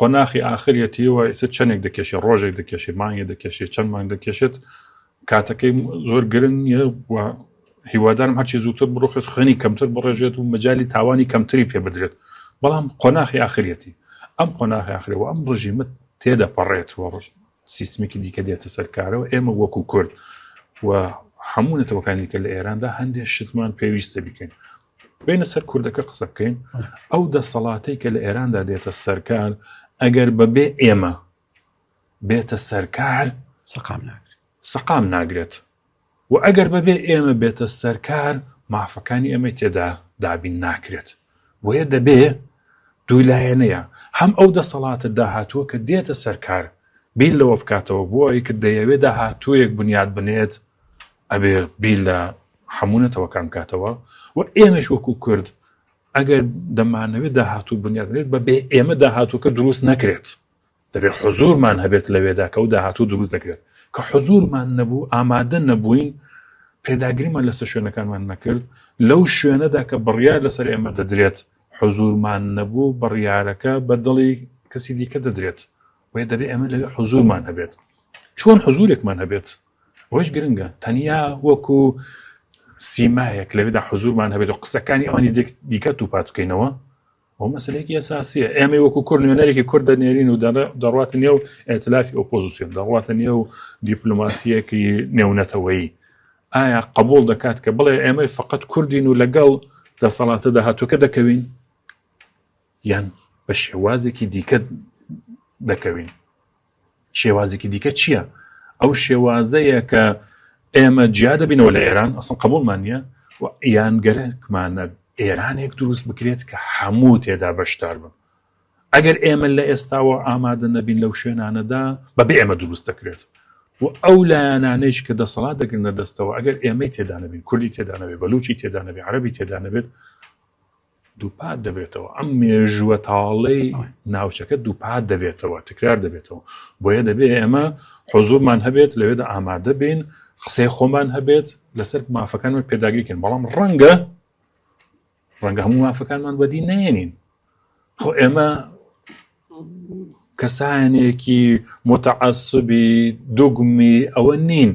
قۆناخی ئاخریەتی و ئێستا چەندێک دەکێشێت ڕۆژێک دەکێشێت مانگێ دەکێشێت چەند مانگ دەکێشێت کاتەکەی زۆر گرنگ نیە و هیوادارم هەرچی زووتر بڕۆخێت خوێنی کەمتر بڕێژێت و مەجای تاوانی کەمتری پێ بدرێت بەڵام قۆناخی ئاخریەتی ئەم قۆناخی ئاخری و ئەم ڕژیمە تێدە پەڕێت و ڕژ سیستمێکی دیکە دێتە سەرکارەوە ئێمە وەکو کورد و هەموو نەتەوەکانی کە لە ئێراندا هەندێک شتمان پێویستە بکەین بینە سەر کوردەکە قسە بکەین ئەو دەسەڵاتەی کە لە ئێراندا دێتە سەرکار ئەگەر بەبێ ئێمە بێتە سەرکار سەقام ناگرێت سەقام ناگرێت و ئەگەر بەبێ ئێمە بێتە سەرکار مافەکانی ئەمەی تێدا دابین ناکرێت بۆیە دەبێ دوو لایەنەیە هەم ئەو دەسەڵاتە داهاتووە کە دێتە سەرکار بیل لەوە بکاتەوە بۆ ئەوەی کە دەیەوێت داهاتوویەک بنیاد بنێت ئەبێ بیل لە هەموو نەتەوەکان بکاتەوە و ئێمەش وەکو کورد ئەگەر دەمانەوێت داهاتوو بنیادێت بە بێ ئێمە داهاتووکە دروست نەکرێت دەبێت حزورمان هەبێت لەوێدا کە و داهاتوو دروست دەکرێت کە حزورمان نەبوو ئامادە نەبووین پێداگریمان لەسەر شوێنەکانمان نەکرد لەو شوێنەدا کە بڕیار لەسەر ئێمە دەدرێت حزورمان نەبوو بڕیارەکە بە دڵی کەسی دیکە دەدرێت وێ دەبێت ئێمە لە حزورمان هەبێت چۆن حزورێکمان هەبێت ئەوەش گرنگە تەنیا وەکو سیمایەک لەوێدا حزورمان هەبێت و قسەکانی ئەوانی دیکە و پاتکەینەوە ئەو مەسلێکی ئەساسیە ئێمە وەکو کورد نوێنەرێکی کورد دەنێرین و دەڕاتە نێو ئەتلافی ئۆپۆزیسیۆن دەڕاتە نێو دیپلوماسیەکی نێونەتەوەیی ئایا قبول دەکات کە بڵێ ئێمەی فقط کوردین و لەگەڵ دەسەڵاتە داهاتووکە دەکەوین یان بە شێوازێکی دیکە دەکەوین شێوازێکی دیکە چییە؟ ئەو شێوازەیە کە ئێمە جیا دەبینەوە لە ئێران ئەسڵ قبولمان نییە و یان گەرەکمانە ئێرانێک دروست بکرێت کە هەموو تێدا بەشدار بن ئەگەر ئێمە لە ئێستاوە ئامادە نەبین لەو شوێنانەدا بە بێ ئێمە دروست دەکرێت و ئەو لایەنانەیش کە دەسەڵات دەگرنە دەستەوە ئەگەر ئێمەی تێدانەبین کوردی تێدانەوێت بەلوچی تێدانەبێت عربی تێدانەبێت دووپات دەبێتەوە ئەم مێژووە تاڵەی ناوچەکە دووپات دەبێتەوە تکرار دەبێتەوە بۆیە دەبێ ئێمە حزورمان هەبێت لەوێدا ئامادە بین قسەی خۆمان هەبێت لەسەر مافەکانمان پێداگریکن بەڵام ڕەنگە ڕەنگە هەموو مافەکانمان بەدی نێنین خۆ ئێمە کەسانێکی متعسبی دوگمی ئەوە نین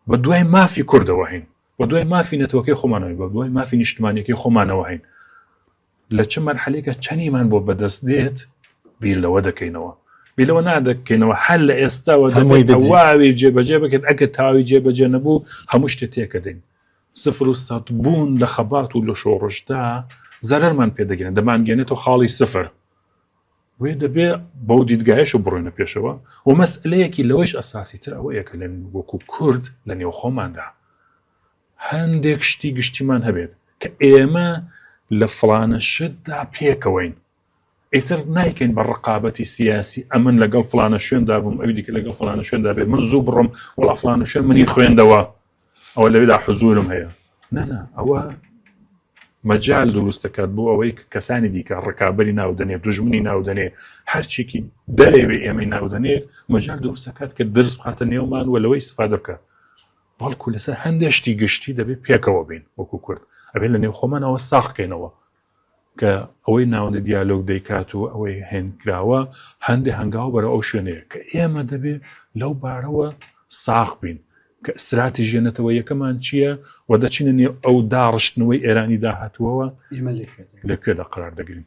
بە دوای مافی کوردەوە هین بەدوای مافی نەتەوەکەی خۆمانەوەی بە دوای مافی نیشتمانەکەی خۆمانەوە هەین لە چ مەرحەلێکە چەنیمان بۆ بەدەست دێت بیر لەوە دەکەینەوە بیلەوە نادەکەینەوە هەر لە ئێستاوە دەمەوەی دەواوی جێبەجێ بکرد ئەگە تاوی جێبەجێ نەبوو هەموو شتێ تێکە دەین سفر و سات بوون لە خەبات و لە شۆڕشدا زەرەرمان پێدەگەن دەمانگەێنێتەوە خاڵی سفر بۆیە دەبێ بەو دیدگایش و بڕۆینە پێشەوە و مەسلەیەکی لەوەیش ئەساسی تر ئەوەیە کە لە وەکو کورد لە نێو خۆماندا هەندێک شتی گشتیمان هەبێت کە ئێمە لە فلانە شتدا پێکەوەین ئیتر نایکەین بە ڕقابەتی سیاسی ئەمن لەگەڵ فلانە شوێندا بووم ئەوی دیکە لەگەڵ فلانە شوێندا بێ من زوو بڕم وڵا فلانە شوێن منی خوێندەوە ئەوە لەوێدا حزورم هەیە نەنا ئەوە مەجال دروست دەکات بۆ ئەوەی کەسانی دیکە ڕکابی ناودەنێ دژمنی ناودەنێ هەرچێکی دەرەوێ ئێمەی ناودەنێت مەجال دروست دەکات کە درز بخاتە نێومان و لەوەی سفا دەکات بەڵکو لەسەر هەندێشتی گشتی دەبێت پێکەوە بین وەکو کورد ئەبێت لە نێو خۆمانەوە ساخکەینەوە کە ئەوەی ناوەندی دیالۆگ دەیکات و ئەوەی هەینکراوە هەندێ هەنگاو بەرەو ئەو شوێنەیە کە ئێمە دەبێ لەو بارەوە ساغ بین کە ستراتیژیە نەتەوەیەکەمان چییە و دەچینە نێو ئەو داڕشتنەوەی ئێرانی داهاتووەوە لە کوێدا قرار دەگرین.